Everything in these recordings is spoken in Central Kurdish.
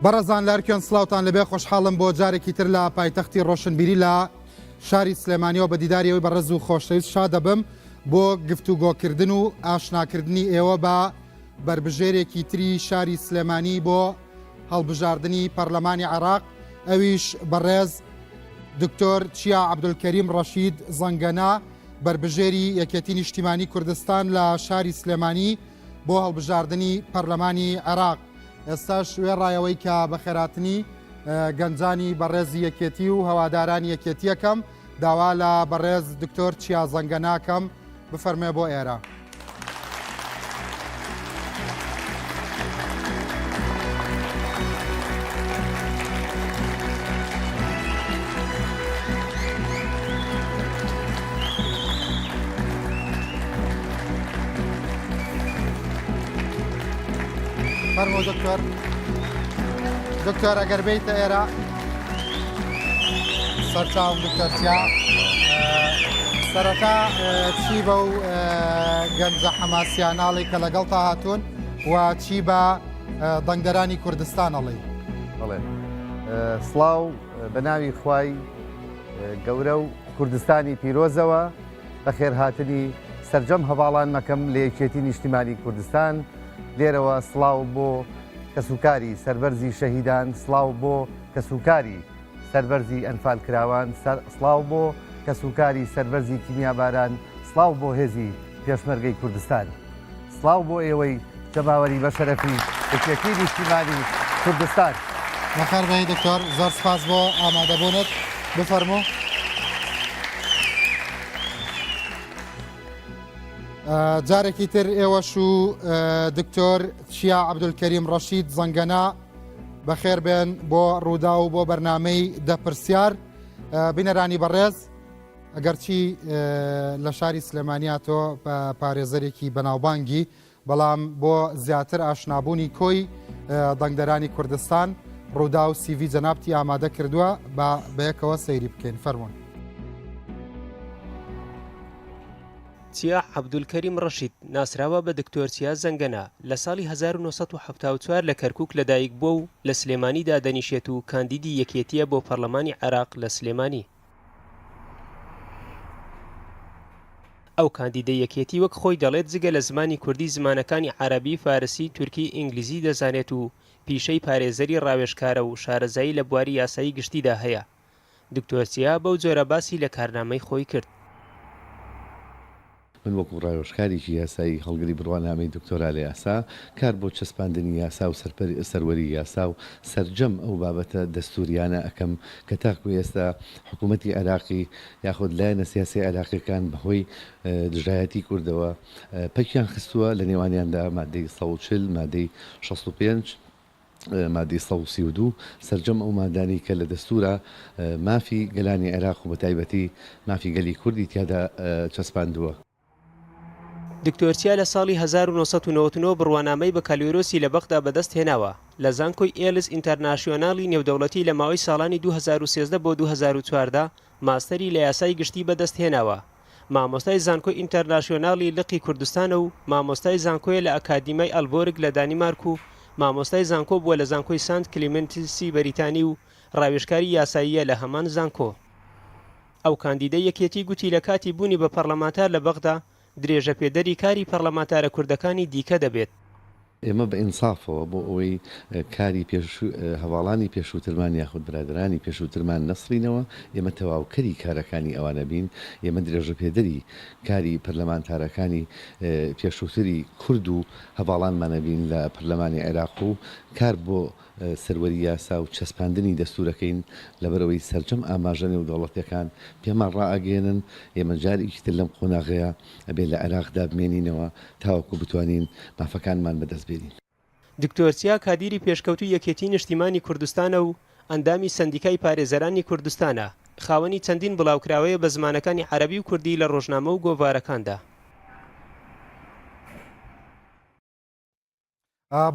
بەڕزان لارکێن سلااوان لەبێ خۆشحاڵم بۆ جارێکی تر لە پایتەختی ڕۆشنبیری لە شاری سلێمانیەوە بە دیداریەوەی بە ڕز و خۆشەویست شا دەبم بۆ گفتوگۆکردن و ئاشناکردنی ئێوە بە بربژێرێکی تری شاری سلێمانی بۆ هەڵبژاردنی پەرلەمانی عێراق ئەویش بەڕێز دکتۆر چیا عەبدولکەریم ڕەشید زەنگەنە بەربژێری یەکێتی نیشتیمانی کوردستان لە شاری سلێمانی بۆ هەڵبژاردنی پەرلەمانی عێراق ئێستاش وێڕایەوەی کە بەخێراتنی گەنجانی بەڕێزی یەکێتی و هەوادارانی یەکێتیەکەم داوا لە بەڕێز دکتۆر چیا زەنگە ناکەم بفەرمێ بۆ ئێرە. دکتۆر دکتۆر ئەگەر بیتە ئێرە سەرچاوم دکتۆر چیا سەرەتا چی بە و گەنجە حەماسیانناڵی کە لەگەڵ تا هاتوون و چی بە دەنگدەرانی کوردستانەڵی بڵێ سڵاو بە ناوی خوای گەورە و کوردستانی پیرۆزەوە بە خێرهاتنی سرجەم هەواڵان مەکەم لە یەکێتی نیشتیمانی کوردستان لێرەوە سڵاو بۆ کەسوکاری سەربەرزی شەهیدان سڵاو بۆ کەسوکاری سەربەرزی ئەنفالکراوان سڵاو بۆ کەسوکاری سەربەرزی کیمیاباران سڵاو بۆ هێزی پێشمەرگەی کوردستان سڵاو بۆ ئێوەی جەماوەری بەشەرەفی یەکێتی نیشتیمانی کوردستان. بەخێر بێی دکتۆر زۆر سپاس بۆ ئامادەبوونت بفەرموو جارێکی تر ئێوەش و دکتۆر چیا عەبدولکەریم ڕەشید زەنگەنە بەخێربێن بۆ ڕووداو بۆ بەرنمەی دەپرسیار بینەرانی بەڕێز ئەگەرچی لە شاری سلێمانیاتۆ پارێزەرێکی بەناوبانگی بەڵام بۆ زیاتر ئاشنابوونی کۆی دەنگدەرانی کوردستان ڕوودا و سیڤی جەنابتی ئامادە کردووە بە بەیەکەوە سەیری بکەین فەرمونون. چیا عەبدولکەریم ڕەشید، ناسراوە بە دکتۆر چیا زەنگەنە، لە ساڵی هەزار و نۆ سەد و حەفتا و چوار لە کەرکووک لەدایکبووە و لە سلێمانی دادەنیشێت و کاندیدی یەکێتییە بۆ پەرلەمانی عێراق لە سلێمانی. ئەو کاندیدەی یەکێتی وەک خۆی دەڵێت جگە لە زمانی کوردی زمانەکانی عەرەبی، فارسی، تورکی، ئینگلیزی دەزانێت و پیشەی پارێزەری ڕاوێژکارە و شارەزایی لە بواری یاسایی گشتیدا هەیە. دکتۆر چیا بەو جۆرە باسی لە کارنامەی خۆی کرد. من وەکو ڕاوێژکارێکی یاسایی هەڵگری بڕوانامەی دکتۆرا لە یاسا، کار بۆ چەسپاندنی یاسا و سەروەری یاسا و سەرجەم ئەو بابەتە دەستوریانە ئەکەم کە تاکو ئێستا حکومەتی عێراقی یاخود لایەنە سیاسی عێراقیەکان بەهۆی دژایەتی کوردەوە پەکیان خستووە لەنێوانیاندا مادەی سەد و چل مادەی شەست و پێنج مادەی سەد و سی و دوو، سەرجەم ئەو مادانەی کە لە دەستوورا مافی گەلانی عێراق و بە تایبەتی مافی گەلی کوردی تیادا چەسپاندووە. دکتۆر چیا لە ساڵی هەزار و نۆ سەد و نەوەد و نۆ بڕوانامەی بەکالۆرۆسی لە بەغدا بەدەست هێناوە لە زانکۆی ئێلس ئینتەرناشیۆنالی نێودەوڵەتی لە ماوەی ساڵانی دوو هەزار و سێزدە بۆ دوو هەزار و چواردە ماستەری لە یاسای گشتی بەدەست هێناوە، مامۆستای زانکۆی ئینتەرناسیۆنالی لقی کوردستانە و مامۆستای زانکۆیە لە ئەکادیمای ئەلبۆرگ لە دانیمارک و مامۆستای زانکۆ بووە لە زانکۆی سانت کلیمنتسی بەریتانی و راوێژکاری یاساییە لە هەمان زانکۆ. ئەو کاندیدەی یەکێتی گوتی لە کاتی بوونی بە پەڕلەمانتار لە بەغدا درێژەپێدەری کاری پەڕلەمانتارە کوردەکانی دیکە دەبێت. ئێمە بە ئینسافەوە بۆ ئەوەی کاری پێش هەڤاڵانی پێشووترمان یاخود برادەرانی پێشووترمان نەسڕینەوە، ئێمە تەواوکەری کارەکانی ئەوانە بین، ئێمە درێژەپێدەری کاری پەرلەمانتارەکانی پێشووتری کورد و هەڤاڵانمانە بین لە پەرلەمانی عێراق و کار بۆ سەروەری یاسا و چەسپاندنی دەستوورەکەین، لەبەرئەوەی سەرجەم ئاماژە نێودەوڵەتییەکان پێمان ڕائەگەیەنن ئێمە جارێکی تر لەم قۆناغەیە ئەبێ لە عێراقدا بمێنینەوە تاوەکو بتوانین مافەکانمان بەدەست بێنین. دکتۆر چیا کادیری پێشکەوتووی یەکێتیی نیشتیمانی کوردستانە و ئەندامی سەندیکای پارێزەرانی کوردستانە، خاوەنی چەندین بڵاوکراوەیە بە زمانەکانی عەرەبی و کوردی لە ڕۆژنامە و گۆڤارەکاندا.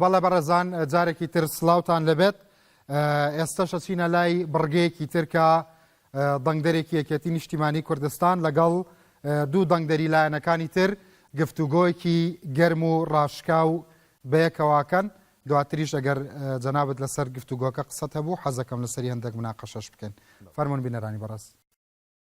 بەڵێ بەڕێزان جارێکی تر سلااوان لەبێت ئێستاش ئەچینە لای بڕگەیەکی ترکە دەنگدەرێکی یەکێتی نیشتیمانی کوردستان لەگەڵ دوو دەنگدەری لایەنەکانی تر گفتوگۆیەکی گەرم و ڕاشکا و بەیەکەواکەن دواتریش ئەگەر جەنابەت لەسەر گفتوگۆکە قسەت هەبوو حەزەکەم لەسەری هەندێک مناقەشەش بکەن فەرمونون بینەرانی بەڕاست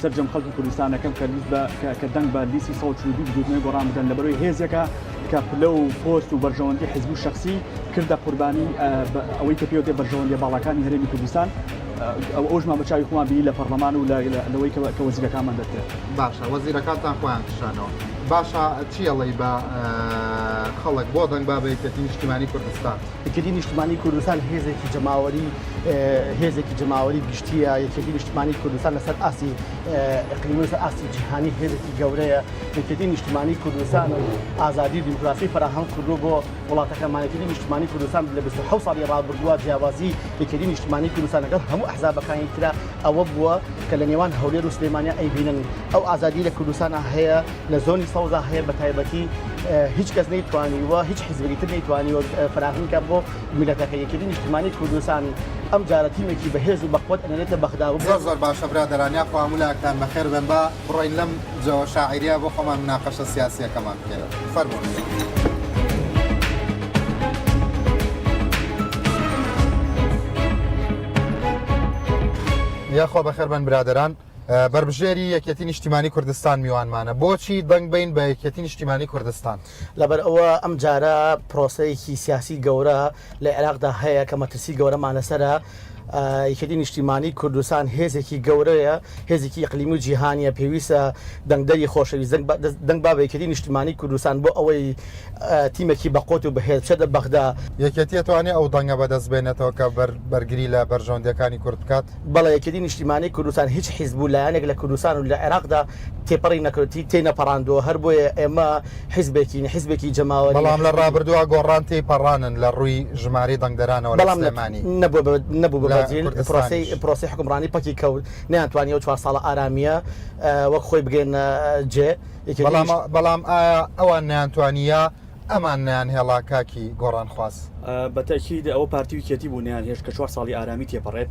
سەرجەم خەڵکی کوردستان دەکەم کە لیست بە کە- کە دەنگ بە لیستی سەد و چل و دوو بزووتنەوەی گۆڕان بدەن لەبەرەوەی هێزێکە کە پلە و پۆست و بەرژەوەندی حزبی و شەخسی کردە قوربانی ئە، بە ئەوەی کە پێوتێ بەرژەوەندیە باڵاکانی هەرێمی کوردستان ئە، ئەو ئەوژمان بە چاوی خۆمان بینی لە پەڕلەمان و لە لە لەوەی کە کە وەزیرەکانمان دەرکرد. باشە وەزیرەکانتان خۆیان کشانەوە باشە چی ئەڵێی بە ئە، خەڵک بۆ دەنگ با بە یەکێتی نیشتیمانی کوردستان؟ یەکێتی نیشتمانی کوردستان هێزێکی جەماوەری هێزێکی جەماوەری گشتیە یەکێتی نیشتمانی کوردستان لەسەر ئاستی ئەقلیم لەسەر ئاستی جیهانی هێزێکی گەورەیە یەکێتی نیشتمانی کوردستان و ئازادی دیموکراسی فراهەم کردو بۆ وڵاتەکەمانەتی نیشتمانی کوردستان لە 26 ساڵی ڕابردووە جیاوازی یەکێتی نیشتمانی کوردستان لەگەڵ هەموو ئەحزابەکانی تررا ئەوە بووە کە لە نێوان هەولێر و سلێمانیا ئەیبینن ئەو ئازادی لە کوردستان هەیە لە زۆنی سەوزا هەیە بە تایبەتی هیچ کەس نەیتوانیوە هیچ حزبی تر نەیتوانیوە فراهمکە بۆ میلەتەکە یەکێتی نیشتمانی کوردستان ئەم جارە تیمێکی بەهێز و بەخۆت ئەنێتە بەغدا و زۆر زۆر باشە برادەران یا خوا مولایەکتان بەخێر بن با بڕۆین لەم جەوە شاعیریا بۆ خۆمان مناقەشە سیاسیەکەمان بکەین فەرموون. یاخوا بەخێربن برادران بەربژێری یەکێتی نیشتیمانی کوردستان میوانمانە بۆچی دەنگ بین بە یەکێتی نیشتیمانی کوردستان لەبەر ئەوە ئەم جارە پرۆسەیەکی سیاسی گەورە لە عێراقدا هەیە کە مەترسی گەورەمان لەسرە یەکێتی نیشتیمانی کوردستان هێزێکی گەورەیە هێزێکی ئەقلیم و جیهانیە پێویستە دەنگدەری خۆشەویست دەنگ با بەیکەتی نیشتیمانی کوردستان بۆ ئەوەی تیمێکی بەقۆت و بەهێز چێدە بەغدا یەکێتیە توانێت ئەو دەنگە بەدەست بێنێتەوە کە بەرگری لە بەرژەوەندەکانی کورد بکات بەڵێ یەکێتی نیشتیمانی کوردستان هیچ حیزب و لایەنێک لە کوردستان و لە عێراقدا تێپەڕی نەکردی تێی نەپەڕاندووە هەر بۆیە ئێمە حیزبێکین حیزبێکی جەماوەری بەڵام لە ڕابردووە گۆڕان تێی پەڕانن لە ڕووی ژماری دەنگدەرانەوە لە سلێمانی نەبوو لە کوردستانی پرۆسی حکومڕانی پەکی کەوت نیان توانی و چوار ساڵە ئارامیە وەک خۆی بگەێنە جێ بەڵام ئایا ئەوان نیانتوانیە ئەمان نەیان هێڵا کاکی گۆڕان خواز. بە تەئکید ئەوە پارتی و یکێتی بوو نەیان هێشت کە چوار ساڵی ئارامی تێپەڕێت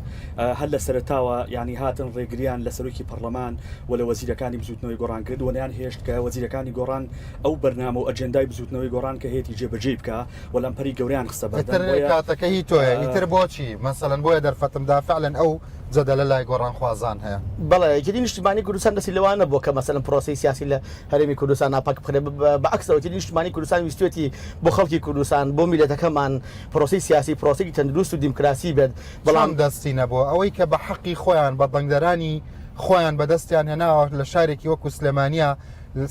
هەر لە سەرەتاوە یانی هاتن ڕێگریان لە سەرۆکی پەڕڵەمان و لە وەزیرەکانی بزوتنەوەی گۆڕان کرد و نەیان هێشت کە وەزیرەکانی گۆڕان ئەو بەرنامە و ئەجێندای بزوتنەوەی گۆڕان کە هەیەتی جێ بەجێی بکا و لەمپەری گەوریان خستە بەردەم ئیتر کاتەکە هی تۆیە ئیتر بۆچی مەسەلەن بۆیە دەرفەتم دا فەعلەن ئەو جەدەلە لای گۆڕان خوازان هەیە. بەڵێ یەکێتی نیشتیمانی کوردستان دەستی لەوە نەبووە کە مەسەلەن پرۆسەی سیاسی لە هەرێمی کوردستان ناپاک بخرێت، بە عەکس ئەوەی تر نیشتمانی کوردستان ویستوێتی بۆ خەڵکی کوردستان، بۆ میللەتەکەمان پرۆسەی سیاسی پرۆسەیەکی تەندروست و دیمکراسی بێت، بەڵام. چۆن دەستینە بۆ ئەوەی کە بە حەقی خۆیان بە دەنگدەرانی خۆیان بە دەستیان هێناوە لە شارێکی وەکو سلێمانیە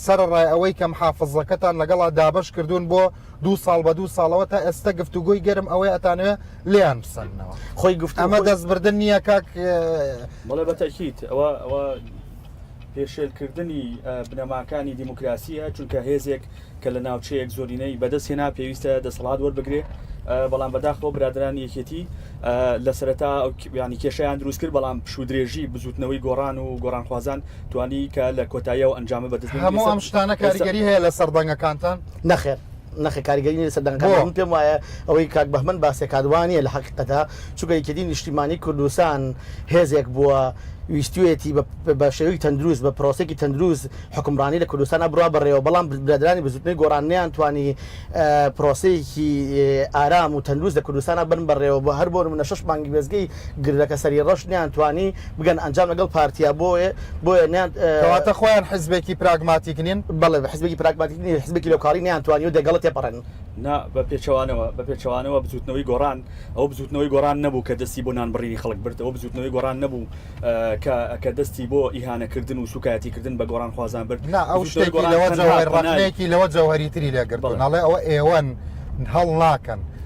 سەرەڕای ئەوەی کە محافزەکەتان لەگەڵا دابەش کردوون بۆ دوو ساڵ بە دوو ساڵەوە تا ئێستە گفتوگۆی گەرم ئەوەی ئەتانەوێ لێیان بسەننەوە خۆی گفتوگۆی ئەمە دەستبردن نییە کاک. بەڵێ بە تەئکید ئەوە ئەوە. پێشێلکردنی بنەماکانی دیموکراسیە چونکە هێزێک کە لە ناوچەیەک زۆرینەی بەدەست هێنا پێویستە دەسەڵات وەربگرێ بەڵام بەداخەوە برادران یەکێتی لە سەرەتا ینی کێشیان دروست کرد بەڵام پشودرێژی بزوتنەوەی گۆڕان و گۆڕانخوازان توانی کە لە کۆتاییەوە ئەنجامە بەدەست هەموو ئەم شتانە کاریگەری هەیە لە سەردەنگەکانتان نەخێر نەخێر کاریگەری نیە لەسەر دەنگەکان بۆ؟ من پێم وایە ئەوەی کاک بەهمەن باسیەکات وانیە لەحەقیقەتا چونکە یەکێتی نیشتیمانی کوردستان هێزێک بووە ویستویەتی بە بە شێوەیەکی تەندروست بە پرۆسەیەکی تەندروست حوکمڕانی لە کوردستانا بڕا بەڕێوە بەڵام برادەرانی بزوتنەوەی گۆڕان نەیان توانی پرۆسەیەکی ئارام و تەندروست لە کوردستانا بەرن بەڕێوە بۆ هەر بۆ نمونە شەش مانگی وێستگەی گردەکە سەری ڕەش نەیان توانی بگەن ئەنجام لەگەڵ پارتیا بۆیە بۆیە نەیان. کەواتە خۆیان حزبێکی پراگماتیک نین؟ بەڵێ حزبێکی پراگماتیک نین حزبێکی لۆکاڵی نەیان توانیوە دەگەڵە تێپەڕێن. نا بە پێچەوانەوە بە پێچەوانەوە بزوتنەوەی گۆڕان ئەوە بزوتنەوەی گۆڕان نەبوو کە دەستی بۆ نانبڕینی خەڵک برد ئەوە بزوتنەوەی گۆڕان نەبوو کە کە دەستی بۆ ئیهانە کردن و سوکایەتی کردن بە گۆڕان خوازان برد نا ئەو شتەی گۆڕان لەوە جەوهەری تری لێ گرت بەڵێ ئەڵێ ئەوە ئێوەن هەڵ ناکەن.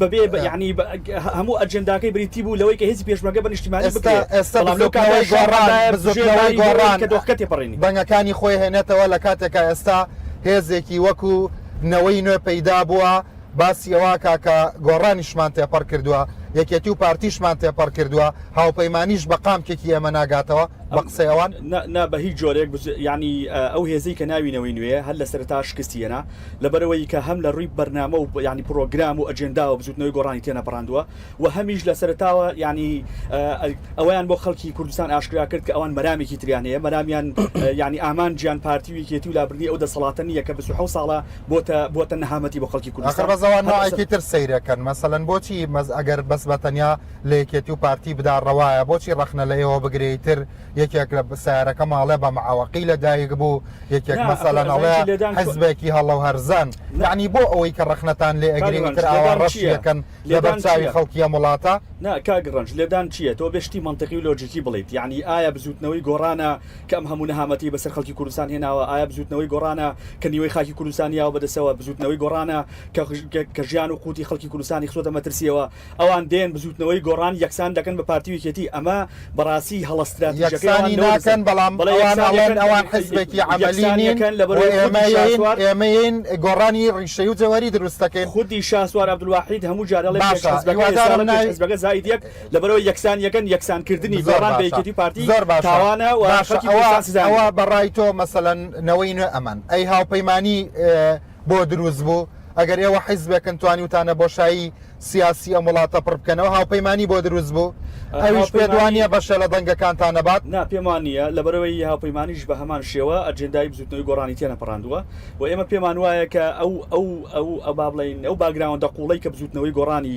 بەبێ بە یانی بە هەموو ئەجنداکەی بریتی بوو لەوەی کە هێزی پێشمەرگە بە نیشتیمانی بکە بەڵام لەو کاتە ژێرمانی گۆڕان کە دۆخەکە تێپەڕێنی بەنگەکانی خۆی هێنێتەوە لە کاتێکا ئێستا هێزێکی وەکو نەوەی نوێ پەیدا بووە باسی ئەوە کاکە گۆڕانیشمان تێپەڕ کردووە یەکێتی و پارتیشمان تێپەڕ کردووە هاوپەیمانیش بە قامکێکی ئێمە ناگاتەوە بە قسەی ئەوان نا بە هیچ جۆرێک ینی ئەو هێزی کە ناوینەوەی نوێ هەر لە سەرتا شکستیەنە لەبەرئەوەی کە هەم لە ڕووی بەرنامە و یانی پڕۆگرام و ئەجێنداوە بزووتنەوەی گۆڕانی تێنەپەڕاندووە و هەمیش لە سەرەتاوە یانی ئەوەیان بۆ خەڵکی کوردستان ئاشکرا کرد کە ئەوان مەرامێکی تریان هەیە، مەرامیان یانی ئامانجیان پارتی و یەکێتی و لابردنی ئەو دەسەڵاتە نییە کە بیست و حەوت ساڵە بۆتە بۆتە نەهامەتی بۆ خەڵکی کوردستان. ئاخر بەس ئەوان نوعێکی تر سەیرە کەن، مەسەلەن بۆچی ئەگەر بەس بە تەنیا لە یەکێتی و پارتی بدا ڕەوایە، بۆچی ڕەخنە لە ئێوە بگرێ ئیتر یەکێک لە سیارەکە ماڵێ بە معوەقی لە دایک بوو یەکێک مەسەلەن ئەڵێ حزبێکی هەڵە و هەرزان یعنی بۆ ئەوەی کە ڕخنەتان لێ ئەگری وتر ئاوا ڕەشیەکەن لە بەرچاوی خەڵکی ئەم وڵاتە نا کاک ڕەنج لێدان چییە تۆ بێشتی منطقی و لۆجیکی بڵیت یعنی ئایا بزوتنەوەی گۆڕانە کە ئەم هەموو نەهامەتی بەسەر خەڵکی کوردستان هێناوە ئایا بزوتنەوەی گۆڕانە کە نیوەی خاکی کوردستان یاوە بەدەسەوە بزوتنەوەی گۆڕانە کە ژیان و قوتی خەڵکی کوردستانی خستۆتە مەترسیەوە ئەوان دێن بزوتنەوەی گۆڕان یەکسان دەکەن بە پارتی و یەکێتی ئەمە بەڕاستی هەڵە ستراتیژەکەی ئەوان لەوە دەزانم. یەکسانی ناکەن بەڵام ئەوان ئەڵێن ئەوان حزبێکی عەمەلی نین و ئێمەین ئێمەین گۆڕانی ڕیشەی و جەوهەری دروست دەکەین. خودی شاسوار عبدالواحید هەموو جار ئەڵێ پێش حزبەکە ئێستا ئەڵێ پێش حزبەکە زائید یەک لەبەرئەوەی یەکسان یەکەن یەکسان کردنی گۆڕان بە یەکێتی و پارتی تاوانە و خەڵکی کوردستان سزا نەدرێت. ئەوە بەڕای تۆ مەسەلەن نەوەی نوێ ئەمەن ئەی هاوپەیمانی بۆ دروست بوو؟ ئەگەر ئێوە حیزبێکن توانیوتانە بۆشایی سیاسی ئەم وڵاتە پڕ بکەنەوە، هاوپەیمانی بۆ دروست بوو؟ ئەویش پێت وا نییە بەشێ لە دەنگەکانتان نەبات؟ نا، پێم وا نییە، لەبەرئەوەی هاوپەیمانیش بە هەمان شێوە ئەجێندای بزووتنەوەی گۆڕانی تێنەپەڕاندووە و ئێمە پێمان وایە کە ئەو ئەو ئەو با بڵێین ئەو باکگراوندە قووڵەی کە بزووتنەوەی گۆڕانی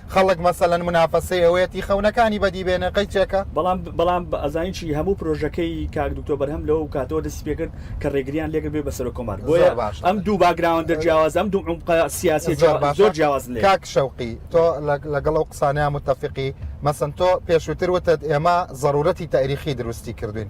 خەڵک مەسەلەن منافەسەی ئەوەیەتی خەونەکانی بەدی بێنێ قەی چەکە؟ بەڵام بەڵام ئەزانین چی هەموو پرۆژەکەی کاک دکتۆر بەرهەم لەو کاتەوە دەستی پێ کرد کە ڕێگریان لێ کرد بێ بە سەرۆک کۆمار بۆیە زۆر باشە ئەم دوو باکگراوندە جیاوازە ئەم دوو عومقە سیاسیە زۆر جیاوا باشە زۆر جیاوازن لێ. کاک شەوقی تۆ لە لەگەڵ ئەو قسانەیا موتەفیقی؟ مەسەن تۆ پێشووتر وتت ئێمە زەروورەتی تەئریخی دروستی کردووین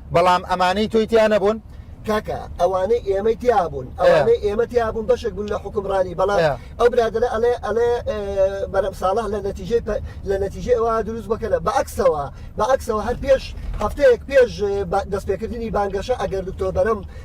بەڵام ئەمانەی تۆی تیا نەبوون؟ کاکە ئەوانەی ئێمەی تیابوون ئەوانەی ئێمە تیابوون بەشێک بوون لە حوکمڕانی بەڵام ئەو برادەرە ئەڵێ ئەڵێ بەرەم ساڵح لە نەتیجەی لە نەتیجەی ئەوە دروست بکەنە بەعکسەوە بەعکسەوە هەر پێش هەفتەیەک پێش دەستپێکردنی بانگەشە ئەگەر دکتۆر بەرەم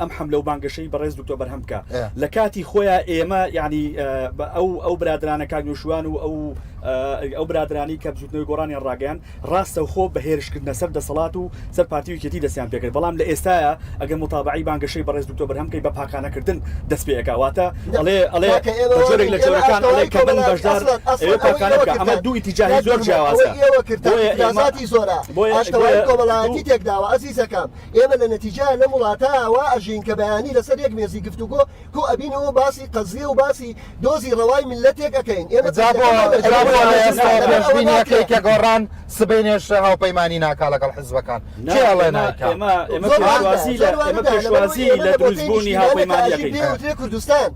ئەم حەملە و بانگەشەی بەڕێز دکتۆر بەرهەم بکە لە کاتی خۆیان ئێمە یعنی ئەو ئەو برادرانە کاک نوشوان و ئەو ئەو برادرانی کە بزوتنەوەی گۆڕانیان ڕاگەیان ڕاستە و خۆ بەهێرشکردنە سەر دەسەڵات و سەر پارتیویکێتی دەستیان پێکرد بەڵام لە ئێستاە ئەگەر متابعی بانگەشەی بەڕێز دکتۆر بەرهەم کەی بە پاکانەکردن دەست پێکاواتە ئەڵێ ئەڵێ جۆرێک لە جۆرەکان ئەڵێ کە بن بەشدار ئەمە دوو ئیتیجاهی زۆر جیاوازە ئێوە کردن زۆرە بۆیە کۆمەڵایەتی تێکداوە ئەزیزەکەم ئێمە لە نەتیجەیا لەم وڵاتە وا ئەژین کە بەیانی لەسەر یەک مێزی گفتوگۆ کۆ ئەبینەوە و باسی قەزیە و باسی دۆزی ڕەوای میللەتێک ئەکەین. ئێمە جا بۆ جا بۆ ئێستا پێشبینی ئەکەی کە گۆڕان سبەینێش هاوپەیمانی ناکا لەگەڵ حیزبەکان؟ کێ ئەڵێ نایکا؟ ئێمە ئێمە پێشوازی لە ئێمە پێشوازی لە دروستبوونی هاوپەیمانی ئەکەین. پێی وترێ کوردستان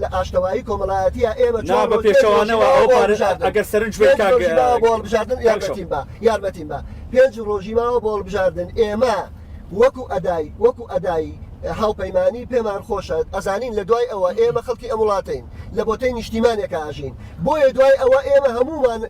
لە ئاشتەوایی کۆمەڵایەتییە ئێمە چۆن ڕۆ پێنج ڕۆژی ماوە بۆ هەڵبژاردن ئەگەر سەرنج بێت کاک پێنج ڕۆژی ماوە بۆ هەڵبژاردن یارمەتیم بە یارمەتیم بە پێنج ڕۆژی ماوە بۆ هەڵبژاردن ئێمە وەکو ئەدای وەکو ئەدای هاوپەیمانی پێمان خۆشە ئەزانین لە دوای ئەوە ئێمە خەڵکی ئەم وڵاتەین لە بۆتەی نیشتیمانێکا ئەژین بۆیە دوای ئەوە ئێمە هەموومان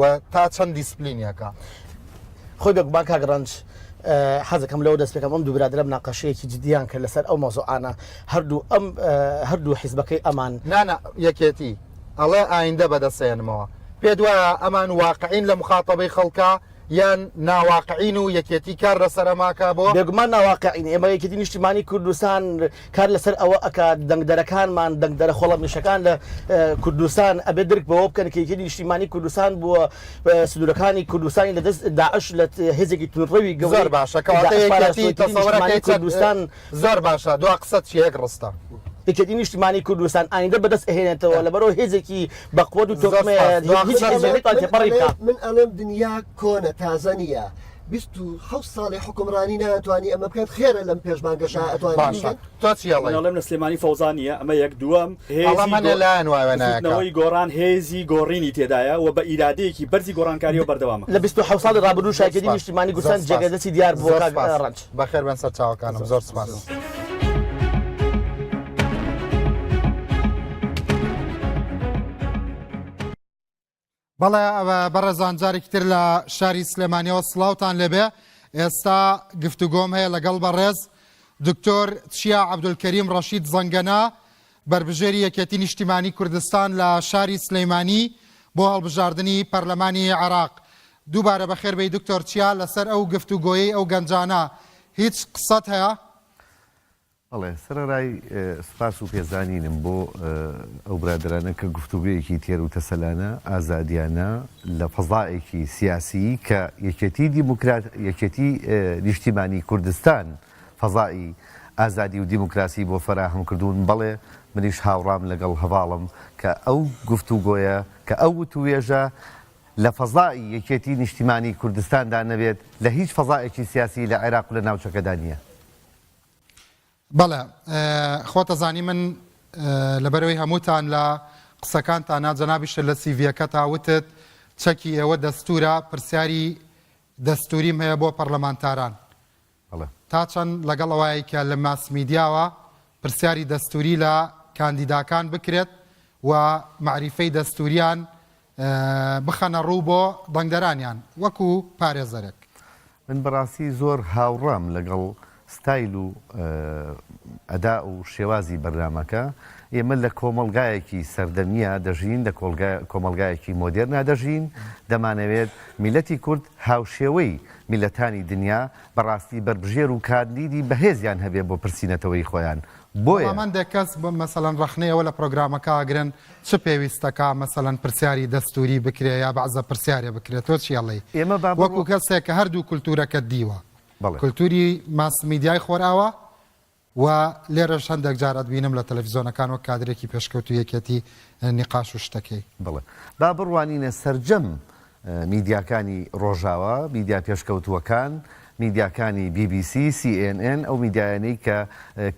و تا چەند دیسپلینیەکە. خۆی بێگومان کاک ڕەنج حەزەکەم لەوە دەست پێکەم ئەم دوو برادرە مناقەشەیەکی جدیان کرد لەسەر ئەو مەزۆعانە هەردوو ئەم هەردوو حیزبەکەی ئەمان نانا یەکێتی ئەڵێ ئایندە بەدەسێنمەوە پێ دوایە ئەمان واقعین لە مخاتەبەی خەڵکە یان ناواقعین و یەکێتی کار لەسەرەماکە بۆ بێگومان ناواقعین ئێمە یەکێتی نیشتیمانی کوردستان کار لەسەر ئەوە ئەکات دەنگدەرەکانمان، دەنگدەرە خۆڵەمێشەکان لە کوردستان ئەبێت درک بەوە بکەن کە یەکێتی نیشتیمانی کوردستان بووە سنوورەکانی کوردستانی لە دەست داعش لە هێزێکی توندڕەوی گەورەی داعش پاراستووە، یەکێتی نیشتیمانی کوردستان. زۆر باشە، دوا قسەت چییە یەک ڕستە؟ یەکێتی نیشتیمانی کوردستان ئایندە بەدەست ئەهێنێتەوە لەبەرو هێزێکی بەقوەت و تۆکمەیە، هیچ هێزێک ناتوانێت تێپەڕی بکات. من ئەڵێم دنیا کۆنە تازە نییە. بیست و حەوت ساڵی حوکمڕانی ناتوانی ئەمە بکات خێرە لەم پێش بانگەشە ئەتوانی باشە تۆ چی ئەڵێی؟ من ئەڵێم لە سلێمانی فەوزا نییە ئەمە یەک دووەم هێزی ئەڵا منە لایەن وایە گۆ- نایەکا بزوتنەوەی گۆڕان هێزی گۆڕینی تێدایە و بە ئیرادەیەکی بەرزی گۆڕانکاریەوە بەردەوامە. لە بیست و حەوت ساڵی ڕابردوو زۆر شاگەری سوپاس. نیشتیمانی زۆر گورسان سوپاس. جێگەی دەستی دیار بووە زۆر کاک سوپاس. ڕەنج. بەخێر بێن سەر چاوەکانم زۆر سوپاس بەڵێ بەڕێزان جارێکی تر لە شاری سلێمانیەوە سلااوان لەبێ ئێستا گفتوگۆم هەیە لەگەڵ بەڕێز دکتۆر چیا عبدولکەریم ڕەشید زەنگەنا بربژێری یەکێتی نیشتیمانی کوردستان لە شاری سلەیمانی بۆ هەڵبژاردننی پەرلەمانی عراق دووبارە بە خێربەی دکتۆر چیا لەسەر ئەو گفتوگۆیەی ئەو گەنجانە هیچ قسەت هەیە بەڵێ سەرەرای سوپاس و پێزانینم بۆ ئەو برادەرانە کە گفتوگۆیەکی تێر و تەسەلانە، ئازادیانە لە فەزایەکی سیاسیی کە یەکێتی دیموکرات یەکێتی نیشتیمانی کوردستان فەزای ئازادی و دیموکراسی بۆ فەراهەم کردوون، بەڵێ منیش هاوڕام لەگەڵ هەڤاڵم کە ئەو گفتوگۆیە کە ئەو وتووێژە لە فەزای یەکێتی نیشتیمانی کوردستاندا نەبێت لە هیچ فەزایەکی سیاسی لە عێراق و لە ناوچەکەدا نییە. بەڵێ خۆتە زانی من لەبەرەوەی هەمووتان لە قسەکانتانا جەنابیشتە لە سیڤیەکەتا وتت چەکی ئێوە دەستورە پرسیاری دەستوریم هەیە بۆ پەرلەمانتاران تا چەند لەگەڵ ئەوەیە کە لە ماس میدیاوە پرسیاری دەستوری لە کاندیداکان بکرێت و معریفەی دەستوریان بخەنە ڕوو بۆ دەنگدەرانیان وەکو پارێزەرێک. من بەڕاستی زۆر هاوڕام لەگەڵ ستایل و ئەدا و شێوازی بەرنامەکە، ئێمە لە کۆمەڵگایەکی سەردەمییا دەژین لە کۆمەڵگایەکی مۆدێرنا دەژین، دەمانەوێت میللەتی کورد هاوشێوەی میللەتانی دنیا بەڕاستی بەربژێر و کاندیدی بەهێزیان هەبێت بۆ پرسی نەتەوەیی خۆیان، بۆیە. بەڵام هەندێک کەس مەسەلەن ڕەخنەی ئەوە لە پرۆگرامەکە ئەگرن چ پێویستە کا مەسەلەن پرسیاری دەستووری بکرێ یا بەعزە پرسیارێ بکرێ تۆ چی ئەڵێی ئێمە با بڕوا وەکو کەسێک کە هەردوو کولتوورەکەت دیوە بەڵێ کولتووری ماس میدیای خۆرئاوا و لێرەش هەندێک جار ئەتبینم لە تەلەفیزۆنەکان وەک کادرێکی پێشکەوتوو یەکێتی نیقاش و شتەکەی. بەڵێ با بڕوانینە سەرجەم میدیاکانی ڕۆژاوا، میدیا پێشکەوتووەکان، میدیاکانی بی بی سی، سی ئێن ئێن، ئەو میدیایانەی کە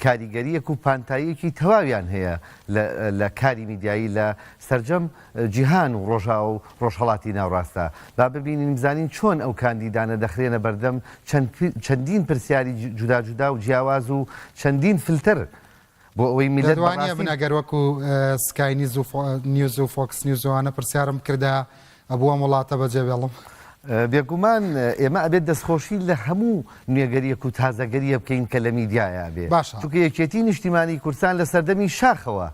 کاریگەرییەک و پانتاییەکی تەواویان هەیە لە کاری میدیایی لە سەرجەم جیهان و ڕۆژاوا و ڕۆژهەڵاتی ناوڕاستدا. با ببینین بزانین چۆن ئەو کاندیدانە دەخرێنە بەردەم چەندین پرسیاری جوداجودا و جیاواز و چەندین فلتەر بۆ ئەوەی میللەت بەڕاستی. دەتوانی ئەبن ئەگەر وەکو سکای نیز و نیوز و فۆکس نیوز ئەوانە پرسیارم بکردە ئەبوو ئەم وڵاتە بەجێ بێڵم. بێگومان ئێمە ئەبێت دەستخۆشی لە هەموو نوێگەریەک و تازەگەریە بکەین کە لە میدیایە ئەبێ چونکە یەکێتی نیشتیمانی کوردستان لە سەردەمی شاخەوە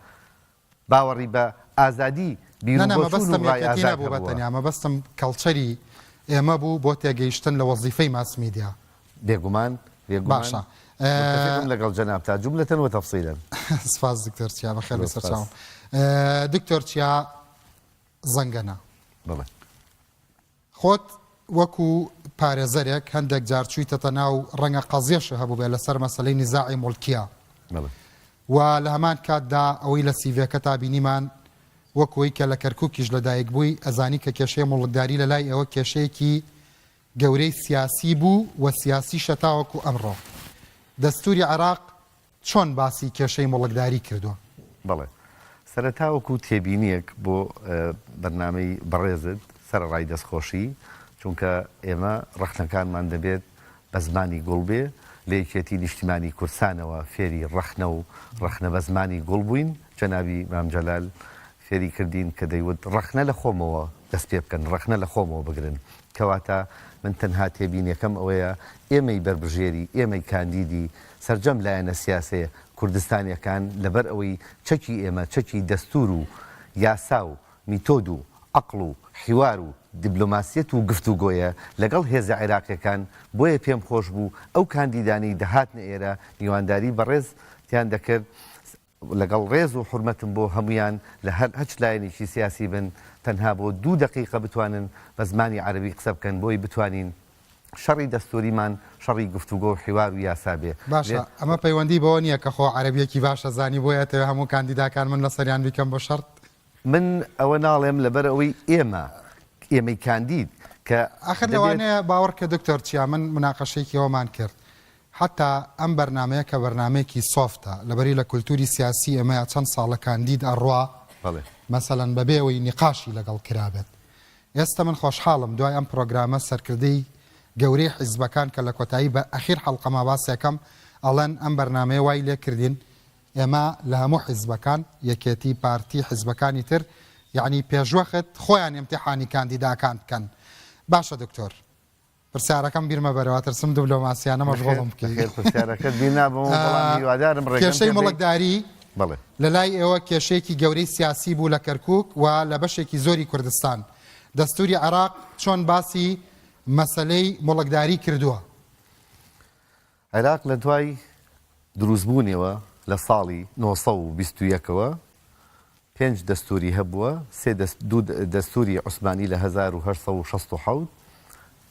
باوەڕی بە ئازادی نا نا بیروبۆچوون و مەبەستم ڕای یەکێتی ئازاد نەبوو بە هەبووە. تەنیا مەبەستم کەڵچەری ئێمە بوو بۆ تێگەیشتن لە وەزیفەی ماس میدیا. بێگومان بێگومان باشە متفقم ئە. لەگەڵ جەنابتا جوملەتەن وتفصیلەن. سپاس دکتۆر چیا بەخێر زۆر بێی سپاس. سەرچاوم. دکتۆر چیا زەنگەنە. بەڵێ. خۆت وەکو پارێزەرێک هەندێک جار چویتەتە ناو ڕەنگە قەزیەشە هەبوبێ لەسەر مەسەلەی نیزاعی موڵکیە و لە هەمان کاتدا ئەوەی لە سیڤێکەتا بینیمان وەکو ئەوی کە لە کەرکوکیش لە دایک بوی ئەزانی کە کێشەی موڵکداری لە لای ئێوە کێشەیەکی گەورەی سیاسی بو و سیاسیشە تاوەکو ئەمڕۆ دەستوری عێراق چۆن باسی کێشەی موڵکداری کردووە؟ بەڵێ. سەرەتا وەکو تێبینییەک بۆ بەرنامەی بەڕێزت، سەرەڕای دەستخۆشی، چونکە ئێمە ڕەخنەکانمان دەبێت بە زمانی گوڵ بێ، لە یەکێتی نیشتیمانی کوردستانەوە فێری ڕەخنە و ڕەخنە بە زمانی گوڵ بووین، جەنابی مام جەلال فێری کردین کە دەیوت ڕەخنە لە خۆمەوە دەست پێ بکەن، ڕەخنە لە خۆمەوە بگرن، کەواتە من تەنها تێبینیەکەم ئەوەیە ئێمەی بەربژێری، ئێمەی کاندیدی سەرجەم لایەنە سیاسەیە کوردستانیەکان لەبەر ئەوەی چەکی ئێمە چەکی دەستور و یاسا و میتۆد و عەقڵ و حیوار و دیبلۆماسیەت و گفتوگۆیە لەگەڵ هێزە عێراقیەکان بۆیە پێم خۆش بوو ئەو کاندیدانەی دەهاتنە ئێرە میوانداری بەڕێز تیان دەکرد لەگەڵ ڕێز و حورمەتم بۆ هەموویان لە هەر هەچ لایەنێکی سیاسی بن تەنها بۆ دوو دەقیقە بتوانن بە زمانی عەرەبی قسە بکەن بۆی بتوانین شەڕی دەستووریمان شەڕی گفتوگۆ و حیوار و یاسا بێ باشە ئەمە پەیوەندی بەوە نییە کە خۆ عەرەبیەکی باش ئەزانی بۆیە ئەتەوێ هەموو کاندیداکان من لەسەریان بیکەم بە شەڕت؟ من ئەوە ناڵێم لەبەر ئەوەی ئێمە ئێمەی کاندید کە ئاخر دەبێت. لەوانەیە باوەڕکە دکتۆر چیا من مناقەشەیەکی ئەوەمان کرد حەتا ئەم بەرنامەیە کە بەرنامەیەکی سۆفتە لەبەری لە کولتوری سیاسی ئێمەیا چەند ساڵە کاندید ئەڕوا مەسەلەن بەبێ ئەوەی نیقاشی لەگەڵ کرابێت ئێستە من خۆشحاڵم دوای ئەم پرۆگرامە سەرکردەی گەورەی حیزبەکان کە لە کۆتایی بە ئەخیر حەڵقەما باسێکەم ئەڵێن ئەم بەرنامەیە وای لێ کردین ئێمە لە هەموو حیزبەکان یەکێتی پارتی حیزبەکانی تر یەعنی پێشوەخت خۆیان ئیمتیحانی کاندیداکان بکەن باشە دکتۆر پرسیارەکەم بیر مەبەرە واترسم دبلۆماسیانە مەشغوڵم بکەی. بەخێر پرسیارەکەت بیر نابەمەوە بەڵام هیوادارم ڕێگەم پێ بدەی. کێشەی موڵکداری بەڵێ. لە لای ئێوە کێشەیەکی گەورەی سیاسی بوو لە کەرکووک و لە بەشێکی زۆری کوردستان. دەستووری عێراق چۆن باسی مەسەلەی موڵکداری کردووە؟ عێراق لە دوای دروستبوونیەوە لە ساڵی نۆ سەد و بیست و یەک ەوە پێنج دەستووری هەبووە، سێ دەست دوو دەستووری عوسمانی لە هەزار و هەشت سەد و شەست و حەوت،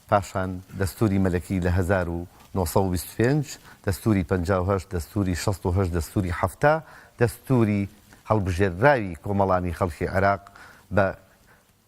پاشان دەستووری مەلەکی لە هەزار و نۆ سەد و بیست و پێنج، دەستووری پەنجا و هەشت، دەستووری شەست و هەشت، دەستووری حەفتا، دەستووری هەڵبژێردراوی کۆمەڵانی خەڵکی عێراق بە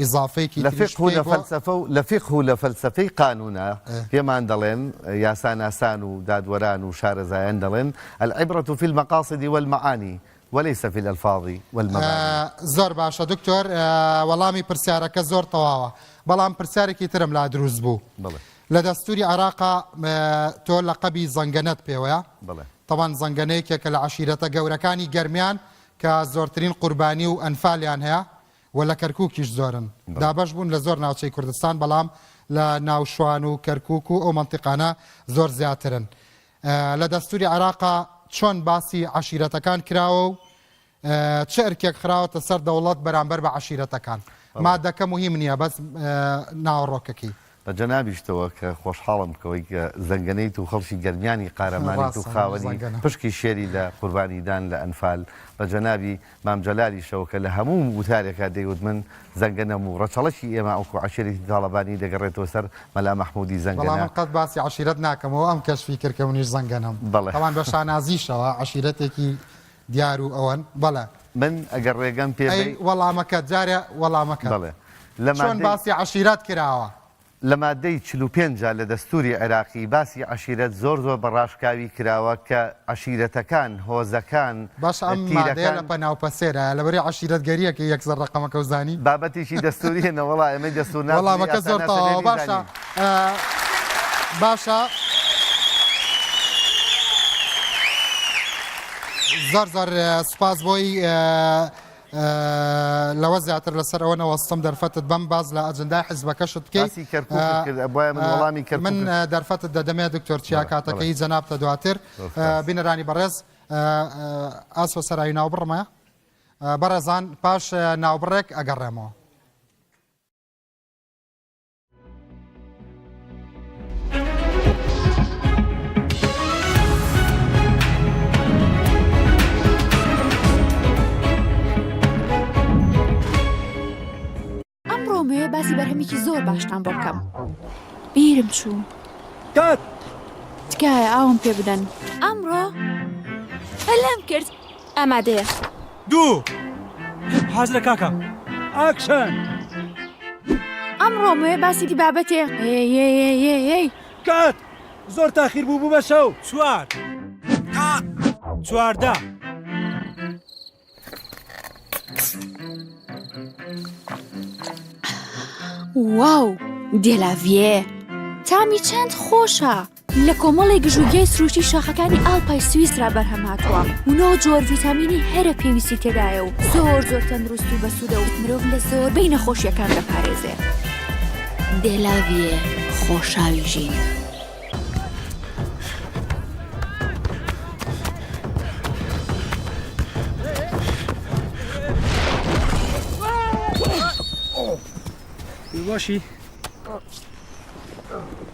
ئیزافەیەکی لە تریش فیقه و پێی لە بۆ فەلسەفە و لە فیقه و لە فەلسەفەی قانوونە ئه. پێمان دەڵێن، یاساناسان و دادوەران و شارەزایان دەڵێن، العبرة فی المقاصد والمعانی وليس فی الالفاظ والمبانی. زۆر باشە دکتۆر وەڵامی پرسیارەکە زۆر تەواوە بەڵام پرسیارێکی ترم لا دروست بوو بڵێ لە دەستوری عێراقا تۆ لەقەبی زەنگەنەت پێوەیە بڵێ تەبان زەنگەنە یەکێکە لە عەشیرەتە گەورەکانی گەرمیان کە زۆرترین قوربانی و ئەنفالیان هەیە و لە کەرکوکیش زۆرن. دابەش بوون لە زۆر ناوچەی کوردستان بەڵام لە ناو شوان و کەرکوک و ئەو مەنتیقانە زۆر زیاترن. لە دەستوری عێراقا چۆن باسی عەشیرەتەکان کراوە و چ ئەرکێک خراوەتە سەر دەوڵەت بەرامبەر بە عەشیرەتەکان؟ مادەکە موهیم نیە بەس ناوەڕۆکەکەی. بە جەنابیشتەوە کە خۆشحاڵم بکەوەی کە زەنگەنەیت و خەڵکی گەرمیانی قارەمانیت و خاوەنی پشکی شێری لە قوربانیدان لە ئەنفال، بە جەنابی مام جەلالیشەوە کە لە هەموو وتارێکا دەیوت من زەنگەنەم و ڕەچەڵەکی ئێمە ئەڵکو عەشیرەتی تاڵەبانی دەگەڕێتەوە سەر مەلا مەحمودی زەنگەنە. بەڵام من قەت باسی عەشیرەت ناکەمەوە ئەم کەشفی کرد کە منیش زەنگەنەم. بەڵێ. تاڵان بە شانازیشەوە عەشیرەتێکی دیار و ئەوەن بەڵێ. من ئەگەر ڕێگەم پێ ئەی بەی. وەڵامەکەت جارێ وەڵامەکەت بەڵێ لە چۆن مادەی. باسی عەشیرەت کراوە؟ لە مادەی چل و پێنج جا لە دەستوری عێراقی باسی عەشیرەت زۆر زۆر بە ڕاشکاوی کراوە کە عەشیرەتەکان، هۆزەکان، باشە ئەم مادەیە لە تیرەکان. پەناو پەسێرایە لەبری عەشیرەتگەریە کە یەک سەر ڕەقەمەکەو زانی؟ بابەتێکی دەستوریە نەوەڵا ئێمەی دەستورناس وەڵامەکەت زۆر تەواوە باشە. باشە زۆر زۆر سوپاس بۆی لەوە زیاتر لەسەر ئەوە نەوەستم دەرفەتت بەم باز لە ئەجندای حزبەکەشت بکەیت من دەرفەتت دەدەمێ دکتۆر چیا کاتەکەی جەنابتە دواتر بینەرانی بەڕێز ئاسۆ سەرای ناو بڕمە بەڕێزان پاش ناوبڕێک ئەگەڕێمەوە باسی بەرهەمێکی زۆر باشتان بۆ بکەم بیرم چوو تکایە ئاوم پێ بدەن ئەمڕۆ هەلام کرد ئامادەیە. دوو. حازرە کاکە. ئاکشن. ئەمڕۆ مۆیە باسی بابەتێ هێێێێێێی. کات. زۆر تاخیر بوو بوو بە شەو. چوار. کات. چواردە. واو دێلاڤیێ تامی چەند خۆشە. لە کۆمەڵێ گژوگیای سروشتی شاخەکانی ئاڵپای سویسرا بەرهەم هاتووە و نۆ جۆر ڤیتامینی هەرە پێویستی تێدایە و زۆر زۆر تەندروست و بەسوودە و مرۆڤ لە زۆربەی نەخۆشییەکان دەپارێزێ. دێلاڤیێ خۆشاوی ژین.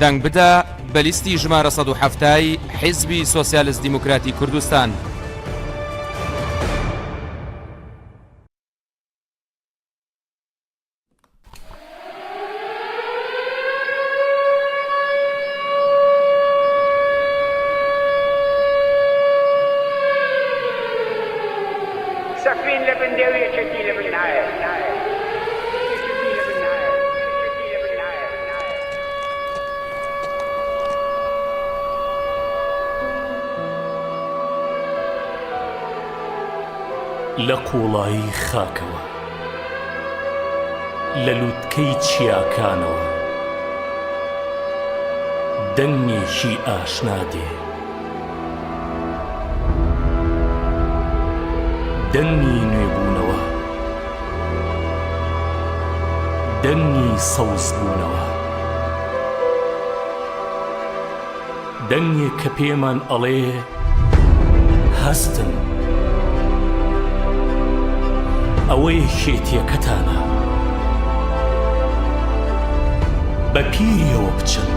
دەنگ بدە بە لیستی ژمارە 1970 حیزبی سۆسیالست دیموکراتی کوردستان. سەفین لە بن دێو یەکێتی لە بن نایەت. لە قوڵایی خاکەوە لە لوتکەی چیاکانەوە دەنگێکی ئاشنا دێ. دەنگی نوێبوونەوە، دەنگی سەوزبوونەوە، دەنگێک کە پێمان ئەڵێ هەستن، ئەوە یەکێتییەکەتانە، بەپیرییەوە بچن.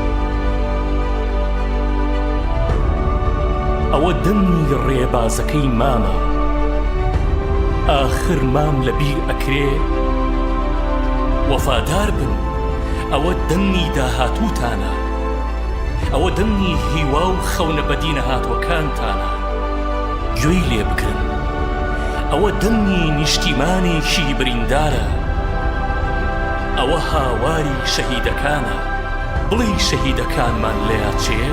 ئەوە دەنگی ڕێبازەکەی مامە ئاخر مام لە بیر ئەکرێ وەفادار بن ئەوە دەنگی داهاتووتانە ئەوە دەنگی هیوا و خەونە بەدینەهاتووەکانتانە گوێی لێ بگرن ئەوە دەنگی نیشتیمانێکی بریندارە ئەوە هاواری شەهیدەکانە بڵی شەهیدەکانمان لەیاچێ؟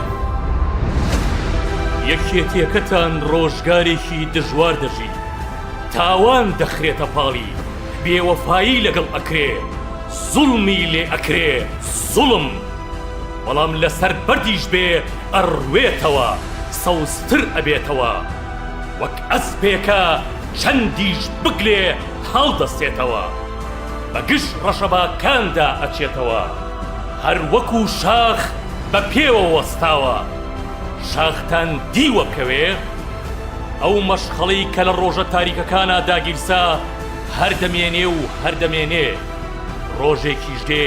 یەکێتیەکەتان ڕۆژگارێکی دژوار دەژی، تاوان دەخرێتە پاڵی، بێوەفایی لەگەڵ ئەکرێ، زوڵمی لێ ئەکرێ، زوڵم بەڵام لەسەر بەردیش بێ ئەڕوێتەوە، سەوزتر ئەبێتەوە، وەک ئەسپێکە چەندیش بگلێ هەڵدەستێتەوە، بە گژ ڕەشەباکاندا ئەچێتەوە. هەر وەکو شاخ بە پێوە وەستاوە شاختان دیوە کەوێ، ئەو مەشخەڵی کە لە ڕۆژە تاریکەکانا داگیرسا هەر دەمێنێ و هەر دەمێنێ، ڕۆژێکیش دێ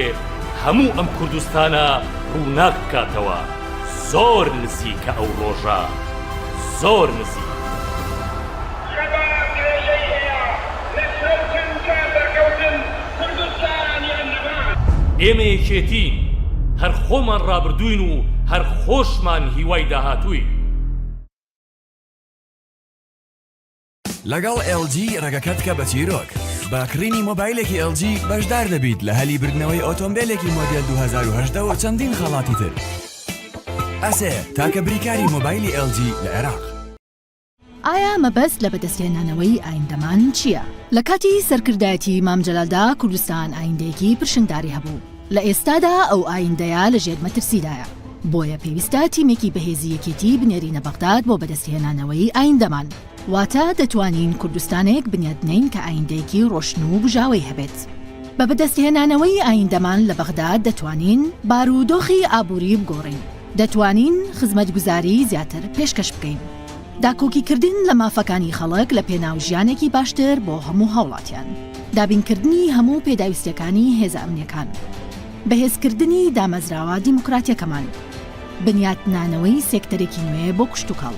هەموو ئەم کوردستانە ڕووناک بکاتەوە، زۆر نزیکە ئەو ڕۆژە، زۆر نزیک. شەباب درێژەی هەیە لەسەر چەمکە سەرکەوتن کوردستان یان نەمان. ئێمە یەکێتین هەر خۆمان ڕابردووین و هەر خۆشمان هیوای داهاتووین. لەگەڵ ئێڵ جی ڕێگەکەت بکە بە چیرۆک، بە کڕینی مۆبایلێکی ئێڵ جی بەشدار دەبیت لە هەلی بردنەوەی ئۆتۆمبێلێکی مۆدێل دوو هەزار و هەژدە و چەندین خەڵاتی تر. ئەسێ، تاکە بریکاری مۆبایلی ئێڵ جی لە عێراق. ئایا مەبەست لە بەدەستهێنانەوەی ئایندەمان چییە؟ لە کاتی سەرکردایەتی مام جەلالدا کوردستان ئایندەیەکی پرشنگداری هەبوو، لە ئێستادا ئەو ئایندەیە لە ژێر مەترسیدایە، بۆیە پێویستە تیمێکی بەهێزی یەکێتی بنێرینە بەغداد بۆ بەدەستهێنانەوەی ئایندەمان، واتە دەتوانین کوردستانێک بنیادبنێین کە ئایندەیەکی ڕۆشن و بژاوەی هەبێت. بە بەدەستهێنانەوەی ئایندەمان لە بەغداد دەتوانین بارودۆخی ئابووری بگۆڕین، دەتوانین خزمەتگوزاریی زیاتر پێشکەش بکەین. داکۆکیکردن لە مافەکانی خەڵک لە پێناو ژیانێکی باشتر بۆ هەموو هاوڵاتیان. دابینکردنی هەموو پێداویستییەکانی هێزە ئەمنییەکان. بەهێزکردنی دامەزراوە دیموکراتییەکەمان. بنیاتنانەوەی سێکتەرێکی نوێ بۆ کشتوکاڵ.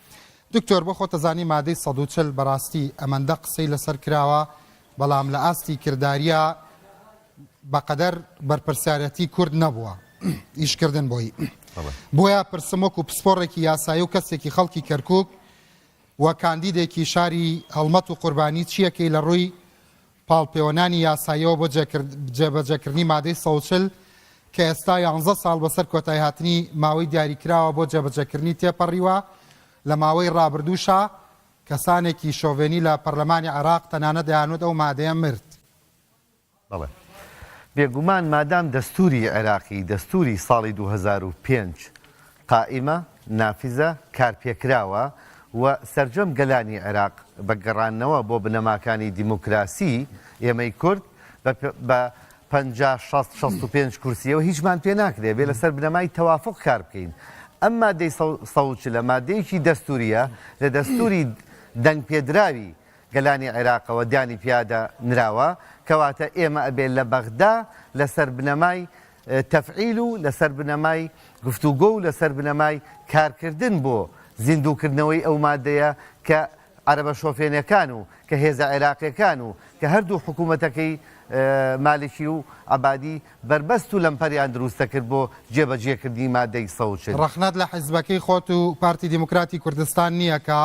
دکتۆر بۆ خۆتەزانی مادەی سەد و چل بەراستی ئەمەندە قسەی لەسەر کراوە بەڵام لە ئاستی کرداریا بەقەدەر بەرپرسیارەتی کورد نەبووە ئیش کردن بۆی بۆیە پرسم وەکو پسپۆڕێکی یاسایی و کەسێکی خەڵکی کەرکک و کاندیدێکی شاری هەڵمەت و قوربانی چیەکەی لە ڕووی پاڵپێوەنانی یاساییەوە بۆ جێبەجێکردنی مادەی سەد و چل کە ئێستا یانزە ساڵ بەسەر کۆتایهاتنی ماوەی دیاریکراوە بۆ جێبەجێکردنی تێپەڕیوە، لە ماوەی ڕابردووشا کەسانێکی شۆڤێنی لە پەرلەمانی عێراق تەنانەت دەیانوت ئەو مادەیە مرد. بەڵێ بێگومان مادام دەستووری عێراقی، دەستووری ساڵی دوو هەزار و پێنج قائیمە، نافزە، کارپێکراوە و سەرجەم گەلانی عێراق بە گەڕانەوە بۆ بنەماکانی دیموکراسی، ئێمەی کورد بە پەنجا، شەست، شەست و پێنج کورسییەوە هیچمان پێ ناکرێت، بێ لەسەر بنەمای تەوافوق کار بکەین. ئەم مادەی سەد و چل مادەیەکی دەستوورییە لە دەستووری دەنگپێدراوی گەلانی عێراقەوە دانی پیادا نراوە، کەواتە ئێمە ئەبێت لە بەغدا لەسەر بنەمای تەفعیل و لەسەر بنەمای گفتوگۆ و لەسەر بنەمای کارکردن بۆ زیندووکردنەوەی ئەو مادەیە کە عەرەبە شۆفێنەکان و کە هێزە عێراقیەکان و کە هەردوو حکوومەتەکەی مالکی و عەبادی بەربەست و لەمپەریان دروست دەکرد بۆ جێبەجێکردنی مادەی سەد و چل. ڕەخنەت لە حیزبەکەی خۆت و پارتی دیموکراتی کوردستان نییە کە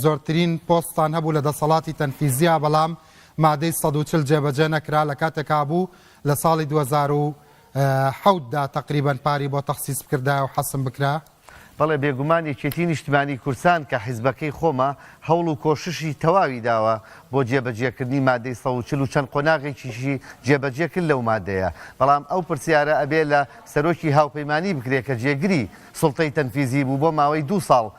زۆرترین پۆستتان هەبوو لە دەسەڵاتی تەنفیزیا بەڵام مادەی سەد و چل جێبەجێ نەکرا لە کاتێکا بوو لە ساڵی دوو هەزار و حەوت دا تەقریبەن پاری بۆ تەخسیس بکردایەو حەسم بکرا. بەڵێ بێگومان یەکێتی نیشتمانی کوردسان کە حیزبەکەی خۆمە هەوڵ و کۆششی تەواوی داوە بۆ جێبەجێکردنی مادەی سەد و چل و چەند قۆناغێکیشی جێبەجێ کرد لەو مادەیە بەڵام ئەو پرسیارە ئەبێ لە سەرۆکی هاوپەیمانی بکرێ کە جێگری سوڵتەی تەنفیزی بوو بۆ ماوەی دوو ساڵ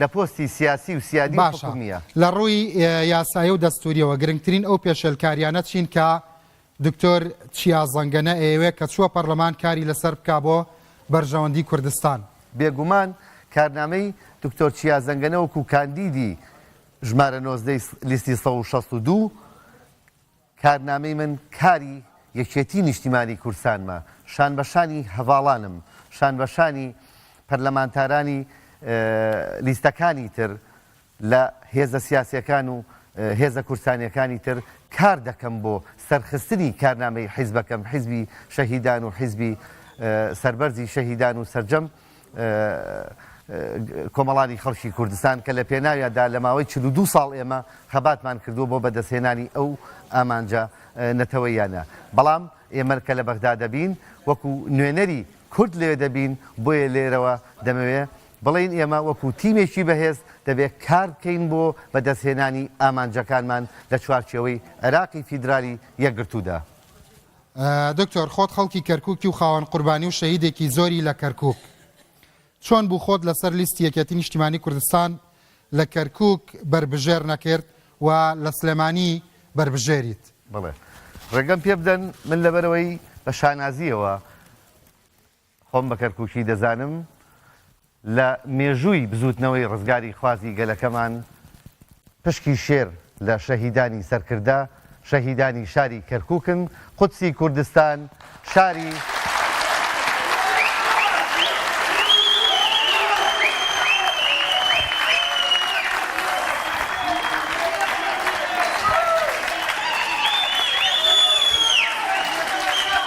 لە پۆستی سیاسی و سیادی و باشە حکومییە. لە ڕووی یاسایی و دەستوورییەوە گرنگترین ئەو پێشێلکارییانە چین کە دکتۆر چیا زەنگەنە ئەیەوێ کە چووە پەڕلەمان کاری لەسەر بکا بۆ بەرژەوەندی کوردستان؟ بێگومان کارنامەی دکتۆر چیا زەنگەنە وەکوو کاندیدی ژمارە نۆزدە ی لیستی سەد و شەست و دوو کارنامەی من کاری یەکێتی نیشتیمانی کوردستانمە، شان بە شانی هەڤاڵانم، شان بە شانی پەرلەمانتارانی لیستەکانی تر لە هێزە سیاسیەکان و هێزە کوردستانیەکانی تر کار دەکەم بۆ سەرخستنی کارنامەی حیزبەکەم، حیزبی شەهیدان و حیزبی سەربەرزی شەهیدان و سەرجەم کۆمەڵانی خەڵکی کوردستان کە لە پێناویاندا لە ماوەی چل و دوو ساڵ ئێمە خەباتمان کردووە بۆ بەدەستهێنانی ئەو ئامانجە نەتەوەییانە. بەڵام ئێمە کە لە بەغدا دەبین، وەکوو نوێنەری کورد لەوێ دەبین، بۆیە لێرەوە دەمەوێ بڵێین ئێمە وەکوو تیمێکی بەهێز دەبێ کار بکەین بۆ بەدەستهێنانی ئامانجەکانمان لە چوارچێوەی عێراقی فیدرالی یەکگرتوودا. دکتۆر خۆت خەڵکی کەرکوکی و خاوەن قوربانی و شەهیدێکی زۆری لە کەرکوک چۆن بوو خۆت لەسەر لیستی یەکێتی نیشتیمانی کوردستان لە کەرکوک بەربژێر نەکرد و لە سلێمانی بەربژێریت؟ بەڵێ ڕێگەم پێبدەن من لەبەرەوەی بە شانازییەوە. خۆم بە کەرکووکی دەزانم، لە مێژووی بزووتنەوەی ڕزگاریخوازی گەلەکەمان پشکی شێر لە شەهیدانی سەرکردە، شەهیدانی شاری کەرکووکن، قودسی کوردستان شاری.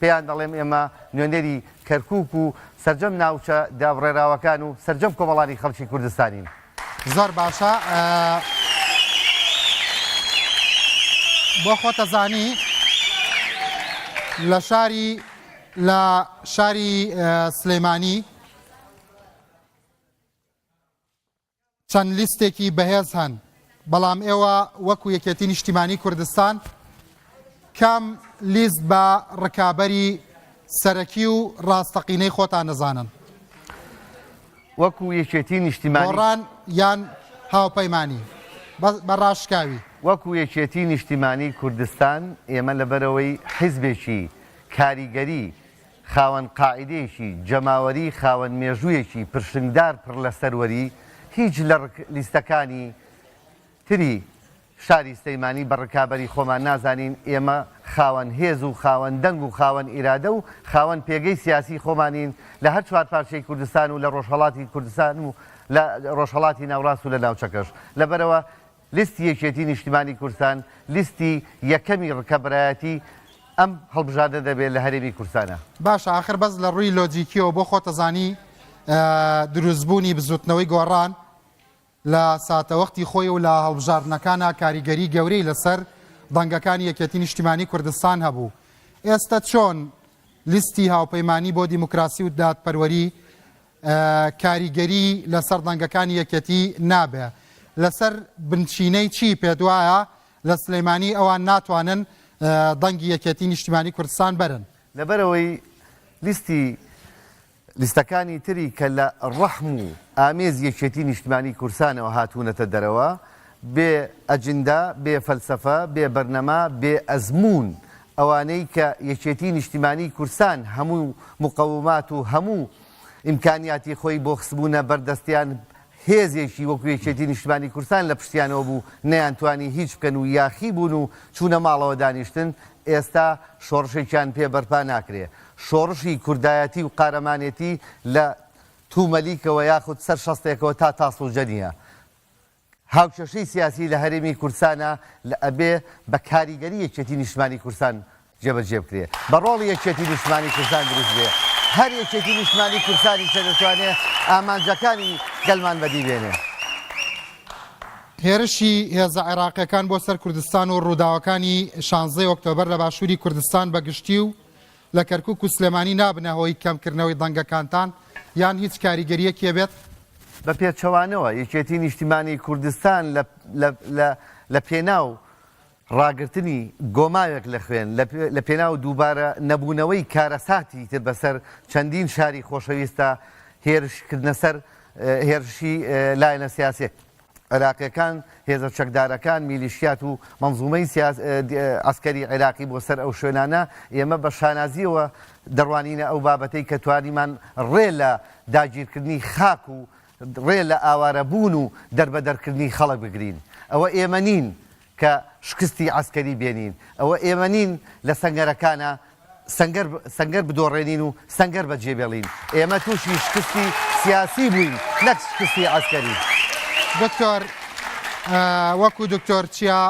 پێیان دەڵێم ئێمە نوێنەری کەرکوک و سەرجەم ناوچە دابڕێراوەکان و سەرجەم کۆمەڵانی خەڵکی کوردستانین. زۆر باشە بۆ خۆتەزانی لە شاری لە شاری سلەیمانی چەند لیستێکی بەهێز هەن، بەڵام ئێوە وەکو یەکێتی نیشتیمانی کوردستان کام لیست بە ڕکابەری سەرەکی و ڕاستەقینەی خۆتان دەزانن؟ وەکو یەکێتی نیشتیمانی. گۆڕان یان هاوپەیمانی بە ڕاشکاوی. وەکو یەکێتی نیشتیمانی کوردستان ئێمە لەبەرئەوەی حیزبێکی کاریگەری خاوەن قاعیدەیەکی جەماوەری خاوەن مێژوویەکی پرشنگدار پڕ لە سەروەری، هیچ لە ڕک لیستەکانی تری شاری سلەیمانی بە ڕکابەری خۆمان نازانین، ئێمە خاوەن هێز و خاوەن دەنگ و خاوەن ئیرادە و خاوەن پێگەی سیاسی خۆمانین لە هەر چوار پارچەی کوردستان و لە ڕۆژهەڵاتی کوردستان و لە ڕۆژهەڵاتی ناوڕاست و لە ناوچەکەش لەبەرئەوە لیستی یەکێتی نیشتیمانی کوردستان لیستی یەکەمی رکەبەرایەتی ئەم هەڵبژاردنە دەبێت لە هەرێمی کوردستانا. باشە ئاخر بەس لە ڕووی لۆجیکیەوە بۆ خۆتەزانی دروستبوونی بزوتنەوەی گۆڕان لە ساتەوەختی خۆی و لە هەڵبژاردنەکانە کاریگەری گەورەی لەسەر دەنگەکانی یەکێتی نیشتیمانی کوردستان هەبوو ئێستا چۆن لیستی هاوپەیمانی بۆ دیموکراسی و دادپەروەری کاریگەری لەسەر دەنگەکانی یەکێتی نابێ لەسەر بنچینەی چی پێتوایە لە سلیمانی ئەوان ناتوانن دەنگی یەکێتی نیشتیمانی کوردستان بەرن؟ لەبەرئەوەی لیستی لیستەکانی تری کە لە ڕەحم و ئامێزی یەکێتی نیشتمانی کوردستانەوە هاتوونەتە دەرەوە بێ ئەجندە، بێ فەلسەفە، بێ بەرنەما، بێ ئەزموون ئەوانەی کە یەکێتی نیشتیمانی کوردستان هەموو مقەومات و هەموو ئیمکانیاتی خۆی بۆ خستبوونە بەر دەستیان هێزێکی وەکو یەکێتی نیشتمانی کوردستان لە پشتیانەوە بوو نەیانتوانی هیچ بکەن و یاخی بوون و چوونە ماڵەوە دانیشتن، ئێستا شۆڕشێکیان پێ بەرپا ناکرێ. شۆڕشی کوردایەتی و قارەمانێتی لە تومەلیکەوە یاخود سەر شەستێکەوە تا تاسڵوجە نییە. هاوکێشەی سیاسی لە هەرێمی کوردستانە لە ئەبێ بە کاریگەری یەکێتی نیشتمانی کوردستان جێبەجێ بکرێ بە ڕۆڵی یەکێتی نیشتمانی کوردستان دروست بێ هەر یەکێتی نیشتمانی کوردستانیشە دەتوانێ ئامانجەکانی گەلمان بەدی بێنێ. هێرشی هێزە عێراقییەکان بۆ سەر کوردستان و ڕووداوەکانی شانزدەی ئۆکتۆبەر لە باشووری کوردستان بە گشتی و لە کەرکوک و سلێمانی نابنە هۆی کەمکردنەوەی دەنگەکانتان یان هیچ کاریگەرییەکێ بێت؟ بە پێچەوانەوە، یەکێتی نیشتیمانی کوردستان لە پێناو ڕاگرتنی گۆماوێک لە خوێن، لە پێناو دووبارە نەبوونەوەی کارەساتی تر بەسەر چەندین شاری خۆشەویستدا، هێرش کردنە سەر هێرشی لایەنە سیاسییەکان. عێراقیەکان، هێزە چەکدارەکان، میلیشیات و مەنزومەی سیاسی عەسکەری عێراقی بۆ سەر ئەو شوێنانە، ئێمە بە شانازیەوە دەڕوانینە ئەو بابەتەی کە توانیمان ڕێ لە داگیرکردنی خاک و ڕێ لە ئاوارەبوون و دەربەدەرکردنی خەڵک بگرین. ئەوە ئێمە نین. کە شکستی عەسکەری بێنین ئەوە ئێمە نین لە سەنگەرەکانا سەنگەر سەنگەر بدۆڕێنین و سەنگەر بە جێبێڵین ئێمە تووشی شکستی سیاسی بووین نەک شکستی عەسکەری. دکتۆر وەکو دکتۆر چیا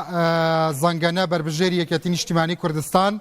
زەنگەنە بەربژێری یەکێتی نیشتیمانی کوردستان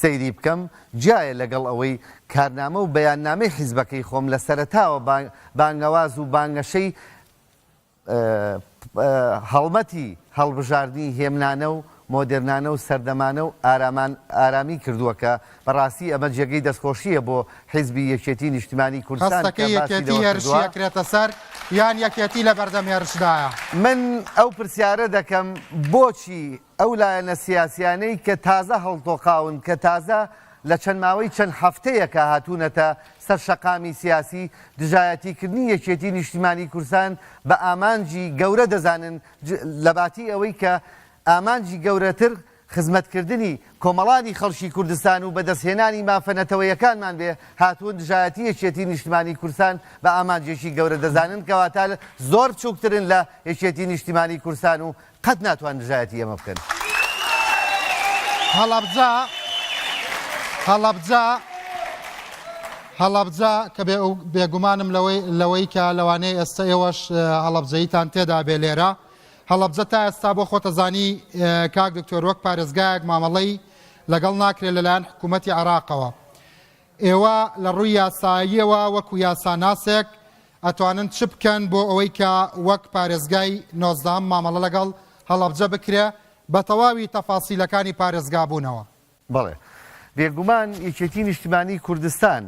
سەیری بکەم، جیایە لەگەڵ ئەوەی کارنامە و بەیاننامەی حیزبەکەی خۆم لە سەرەتاوە بانگەواز و بانگەشەی هەڵمەتی هەڵبژاردنی هێمنانە و مۆدێرنانە و سەردەمانە و ئارامی کردووە کە بە ڕاستی ئەمە جێگەی دەستخۆشییە بۆ حیزبی یەکێتی نیشتمانی کوردستان هەستەکەی یەکێتی هێرشی ئەکرێتە سەر یان یەکێتی لە بەردەم هێرشدایە؟ من ئەو پرسیارە دەکەم بۆچی ئەو لایەنە سیاسیانەی کە تازە هەڵتۆقاون، کە تازە لە چەند ماوەی چەند هەفتەیەکە هاتوونەتە سەر شەقامی سیاسی، دژایەتیکردنی یەکێتی نیشتیمانی کوردستان بە ئامانجی گەورە دەزانن، لەباتی ئەوەی کە ئامانجی گەورەتر خزمەتکردنی کۆمەڵانی خەڵکی کوردستان و بەدەستهێنانی مافە نەتەوەیەکانمان بێ، هاتوون دژایەتی یەکێتی نیشتیمانی کوردستان بە ئامانجێکی گەورە دەزانن، کەواتە زۆر بچووکترن لە یەکێتی نیشتیمانی کوردستان و قەت ناتوان دژایەتی ئێمە بکەن. هەڵەبجە هەڵەبجە هەڵەبجە کە بێگومانم لەوەی لەوەی کە لەوانەیە ئێستا ئێوەش هەڵەبجەیتان تێدا بێ لێرە هەڵەبجە تا ئێستا بۆ خۆتەزانی کاک دکتۆر وەک پارێزگایەک مامەڵەی لەگەڵ ناکرێت لەلایەن حکوومەتتی عراقەوە ئێوە لە ڕووی یاساییەوە وەکو یاساناسێک ئەتوانن چ بکەن بۆ ئەوەی کە وەک پارێزگای نۆزدەهەم مامەڵە لەگەڵ هەڵەبجە بکرێ بە تەواوی تەفاسیلەکانی پارێزگابوونەوە؟ بەڵێ. بێگومان یەکێتی نیشتیمانی کوردستان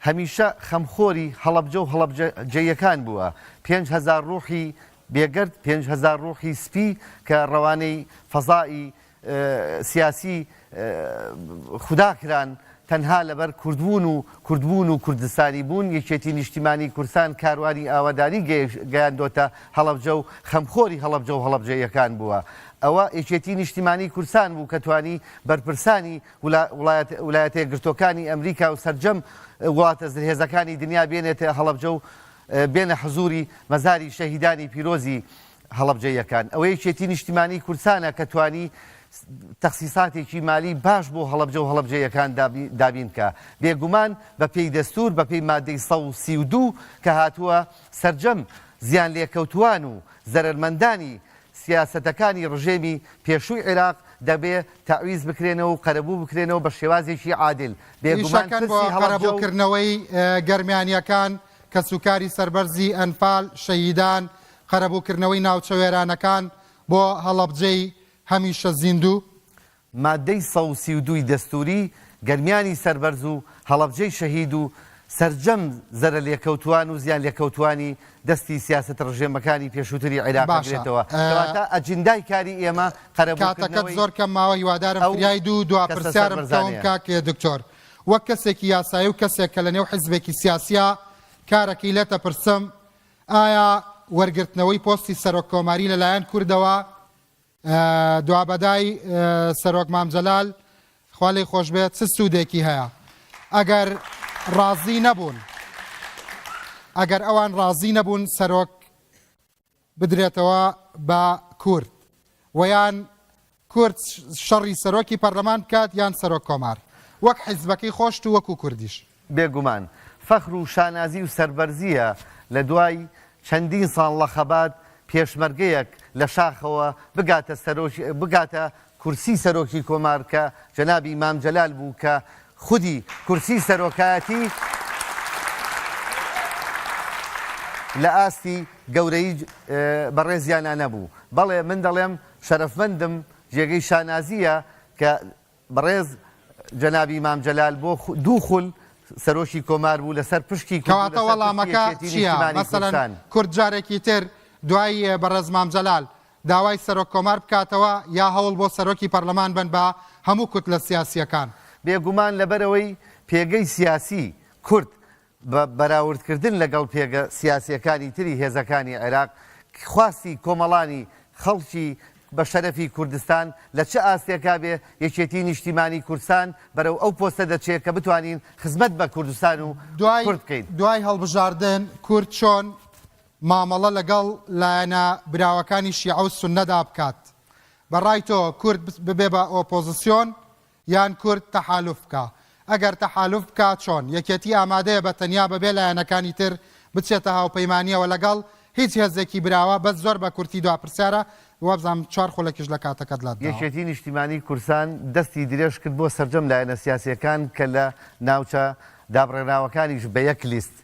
هەمیشە خەمخۆری هەڵەبجە و هەڵەبجەییەکان بووە. پێنج هەزار ڕووحی بێگەرد، پێنج هەزار ڕووحی سپی کە ڕەوانەی فەزای سیاسی خودا کران تەنها لەبەر کوردبوون و کوردبوون و کوردستانی بوون، یەکێتی نیشتیمانی کوردستان کاروانی ئاوادانی گەیاندۆتە هەڵەبجە و خەمخۆری هەڵەبجە و هەڵەبجەییەکان بووە. ئەوە یەکێتی نیشتیمانی کوردستان بوو کە توانی بەرپرسانی ولایەتەیەکگرتووەکانی ئەمریکا و سەرجەم وڵاتە زلهێزەکانی دنیا بێنێتە هەڵەبجە و بێنە حزووری مەزاری شەهیدانی پیرۆزی هەڵەبجەییەکان. ئەوە یەکێتی نیشتیمانیی کوردستانە کە توانی تەخسیساتێکی مالیی باش بۆ هەڵەبجە و هەڵەبجەییەکان دابین بکا. بێ گومان بە پێی دەستوور، بە پێی ماددەی سەد و سی و دوو کە هاتووە، سەرجەم زیانلێکەوتووان و زەرەرمەندانی سیاسەتەکانی ڕژێمی پێشووی عیراق دەبێ تەعویز بکرێنەوە و قەرەبوو بکرێنەوە بە شێوازێکی عادل. بێ گومان ئیشەکەن بۆ پرسی هەڵەبجە و. قەرەبووکردنەوەی گەرمیانییەکان، کەسوکاری سەربەرزی ئەنفال، شەهیدان، قەرەبووکردنەوەی ناوچە وێرانەکان بۆ هەڵەبجەی هەمیشە زیندوو. ماددەی سەد و سی و دوو ی دەستووری، گەرمیانی سەربەرز و هەڵەبجەی شەهید و سەرجەم زەرەرلێکەوتووان و زیانلێکەوتووانی دەستی سیاسەت ڕژێمەکانی پێشووتری عێراق باشە ئەگرێتەوە، کەواتە ئەجندای کاری ئێمە کاتەکەت قەرەبووکردنەوەی زۆر کەم ماوە هیوادارم ئەو فریای دوو دوا کەسە پرسیارم بکەوم سەربەرزانەیە. کاک دکتۆر وەک کەسێکی یاسایی و کەسێک کە لە نێو حیزبێکی سیاسیە کارەکەی لێتە پرسم ئایا وەرگرتنەوەی پۆستی سەرۆک کۆماری لەلایەن کوردەوە دوابەدای سەرۆک مام جەلال خوا لێی خۆشبێت چ سوودێکی هەیە ئەگەر ڕازی نەبوون ئەگەر ئەوان ڕازی نەبوون سەرۆک بدرێتەوە بە کورد ویان کورد شەڕی سەرۆکی پەرلەمان بکات یان سەرۆک کۆمار وەک حیزبەکەی خۆشت و وەکو کوردیش. بێگومان فەخر و شانازی و سەربەرزیە لە دوای چەندین ساڵ لە خەبات پێشمەرگەیەک لە شاخەوە بگاتە سەرۆکی بگاتە کورسی سەرۆکی کۆمار کە جەنابی مام جەلال بوو کە خودی کورسی سەرۆکایەتی لە ئاستی گەورەی بەڕێزیانا نەبوو بەڵێ من دەڵێم شەرەفمەندم جێگەی شانازییە کە بەڕێز جەنابی مام جەلال بۆ دوو خول سەرۆکی کۆمار بوو لەسەر پشکی کورد و کەواتە لەسەر پشکی وەڵامەکە یەکێتی چییە؟ نیشتیمانی مەسەلەن کوردستان. کورد جارێکی تر دوای بەڕێز مام جەلال داوای سەرۆک کۆمار بکاتەوە یا هەوڵ بۆ سەرۆکی پەرلەمان بەن بە هەموو کوتلە سیاسییەکان؟ بێگومان لەبەرئەوەی پێگەی سیاسی کورد بە بەراوردکردن لەگەڵ پێگە سیاسییەکانی تری هێزەکانی عێراق، خواستی کۆمەڵانی خەڵکی بە شەرەفی کوردستان لە چ ئاستێکا بێ، یەکێتیی نیشتیمانیی کوردستان بەرەو ئەو پۆستە دەچێ کە بتوانین خزمەت بە کوردستان و کورد بکەین. دوای هەڵبژاردن، کورد چۆن مامەڵە لەگەڵ لایەنە براوەکانی شیعە و سوننەدا بکات؟ بە ڕای تۆ، کورد ببێ بە ئۆپۆزسیۆن یان کورد تەحالوف بکا؟ ئەگەر تەحالوف بکا چۆن؟ یەکێتی ئامادەیە بە تەنیا بەبێ لایەنەکانی تر بچێتە هاوپەیمانیەوە لەگەڵ هیچ هێزێکی براوە؟ بەس زۆر بە کورتی دوا پرسیارە وابزانم چوار خولەکیش لە کاتەکەت لەت داوە. یەکێتی نیشتیمانی کورسان دەستی درێژ کرد بۆ سەرجەم لایەنە سیاسیەکان کە لە ناوچە دابڕێنراوەکانیش بە یەک لیست،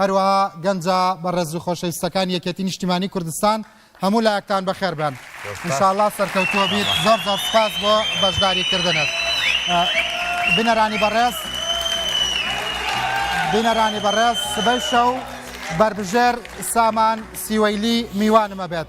هەروەها گەنجە بەڕێز و خۆشەویستەکانی یەکێتی نیشتیمانی کوردستان هەموو لایەکتان بەخێر بێن انشااللە سەرکەوتووە بیت زۆر زۆر سوپاس بۆ بەشداری کردنت بینەرانی بەڕێز بینەرانی بەڕێز سبەی شەو بەربژێر سامان سیوەیلی میوانمە بێت